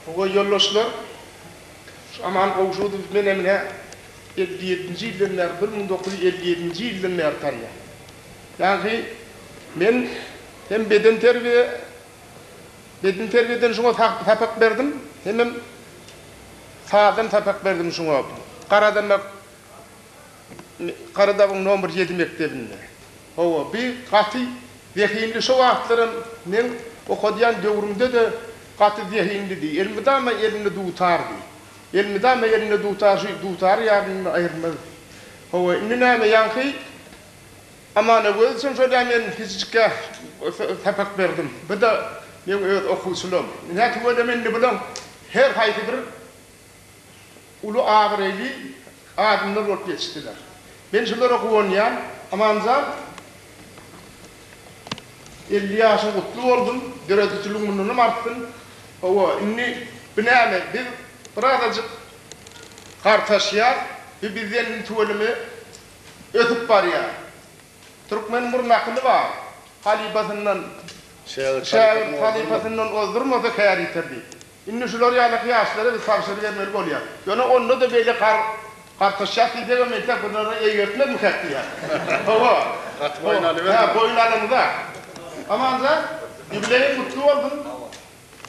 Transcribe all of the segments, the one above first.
Howwa ýoldaşlar, şu Aman Gowşudowy men emine elli ýedinji ýyldan bäri, bir müň dokuz ýüz elli ýedinji ýyldan bäri tanýan. Ýagny men hem bedenterbiýe, bedenterbiýeden şuňa sapak berdim, hemem sazdan sapak berdim şuňa, garadamak, Garadagyň nomer ýedi mekdebinde. Hawa, bi gaty zehinli şo wagtlaram meň okadýan döwrümde-de gaty zehinlidi. Elmydama elinde dutardy. Elmydama elinde dutar, şu dutary ýanyndan aýyrmazdy. Hawa, indi näme, ýaňky Amanagöz üçin şol-ä men kiçijikkä sapak berdim. Bu-da meň öz okuwçylarym. Ine, tüweleme indi bularyň her haýsy bir. Uly abraýly adamlar bolup ýetişdiler. Men şulara guwanýan. Amanjan elli ýaşyň gutly bolsun, döredijiligin mundanam artsyn. Hawa, indi bu näme, biz birazajyk gartaşýas, bu bizden indi tüweleme ösüp barýar. Türkmeniň bir nakyly bar, Halypasyndan şägirt halypasyndan ozdurmasa kär ýiter diýip. Indi şular ýalyky ýaşlara biz tabşyry bermeli bolýar. Ýöne onda-da beýle gartaşýas diýsegem entek bunlara eýgertmezmikak diýýän. Hawa. Gaty boýun alyberme. Hä, boýun alymyzak. Amanjan, ýubileýiň gutly bolsun.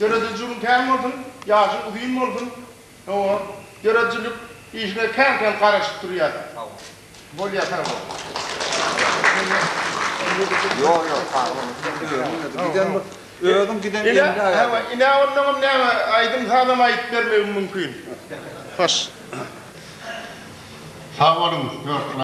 Döredijiligiň kän bolsun, ýaşyň uzyn bolsun. Hawa, döredijilik işine kän-kän garaşyp durýas. Bolýa sag bol. Ýok ýok sag bol. Özüň giden ýeriňde aýa. Hawa, ine onnoňam näme aýdym sazam aýdyp bermegim mümkin. Hoş. Sag boluň.